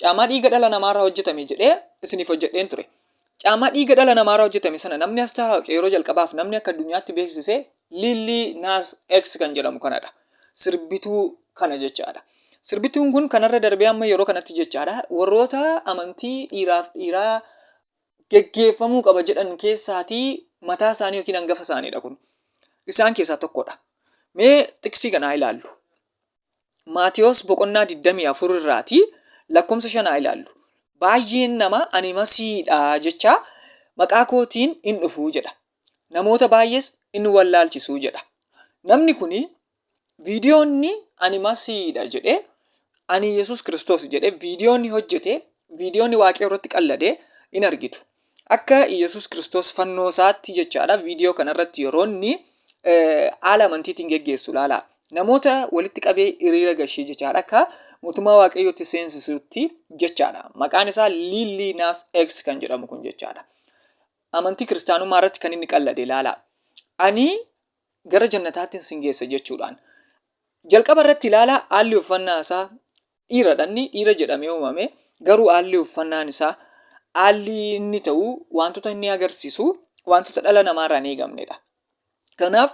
Caamaa dhiiga dhala namaarraa hojjetame jedhee isiniif hojjedheen ture. Caamaa dhiiga dhala namaarraa hojjetame sana namni as taa'u yeroo jalqabaaf namni akka addunyaatti beeksise Lillii Naas X kan jedhamu kanadha. Sirbituu kana jechaadha. Sirbituun kun kanarra darbee amma yeroo kanatti jechaadha warroota amantii dhiiraaf dhiiraa geggeeffamuu qaba jedhan keessaatii mataa isaanii yookiin hangafa isaaniidha kun. Isaan keessaa tokkodha. Mee xiqsii kana haa ilaallu. Maatewos boqonnaa 24 irraati lakkoofsa shanaa ilaallu. Baay'een nama ani masiidha jechaa maqaa kootiin in dhufu jedha. Namoota baay'ees in wallaalchisu jedha. Namni kun viidiyoonni ani masiidha jedhee ani Yesuus Kiristoos jedhee viidiyoonni hojjete viidiyoonni waaqayyo irratti qallade in argitu. Akka Yesus Kiristoos fannoo isaatti jechaadha viidiyoo kana irratti yeroo inni haala amantiitiin geggeessu ilaala. Namoota walitti qabee hiriira gashee jechaadha akka mootummaa waaqayyootti seensisuutti jechaadha. Maqaan isaa Liillii Naas X kan jedhamu kun jechaadha. Amantii kiristaanummaa irratti kan inni qallade ilaala. Ani gara jannataattiin sin geessa jechuudhaan. Jalqaba irratti ilaala haalli uffannaa isaa dhiiradha inni dhiira jedhamee uumame garuu haalli uffannaan isaa haalli inni ta'u wantoota inni agarsiisu wantoota dhala namaarraa hin eegamnedha. Kanaaf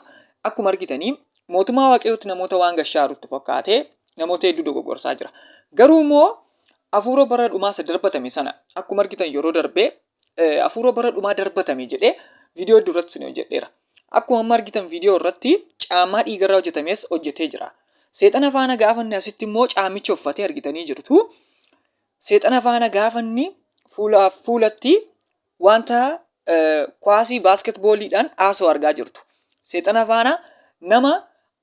akkuma argitanii mootummaa waaqayyootti namoota waan gashaarutti fakkaatee namoota hedduu dogoggorsaa jira. Garuu immoo hafuura bara dhumaa isa darbatame sana akkuma argitan yeroo darbee afuura bara dhumaa darbatame jedhee viidiyoo hedduu irratti isin hojjedheera. Akkuma amma argitan viidiyoo irratti caammaa dhiigarraa hojjetames hojjetee jira. Seexana faana gaafanni asitti immoo caamicha uffatee argitanii jirtu. Seexana faana gaafanni fuulaaf fuulatti wanta kwaasii baaskeetbooliidhaan haasoo argaa jirtu. Seexana faana nama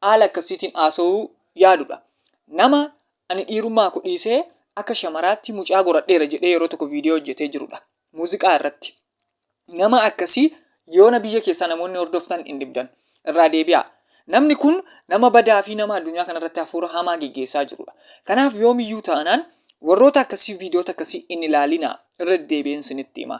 haala akkasiitiin haasawuu yaaduudha. Nama ani dhiirummaa ko dhiisee akka shamaraatti mucaa goradheera jedhee yeroo tokko viidiyoo hojjetee jirudha. Muuziqaa irratti. Nama akkasii yoona biyya keessaa namoonni hordoftan hin dhibdan. Irraa deebi'aa. Namni kun nama badaa fi nama addunyaa kanarratti hafuura hamaa geggeessaa jirudha. Kanaaf yoomiyyuu taanaan warroota akkasii viidiyoota akkasii hin ilaalinaa. Irra deddeebi'een isinitti hima.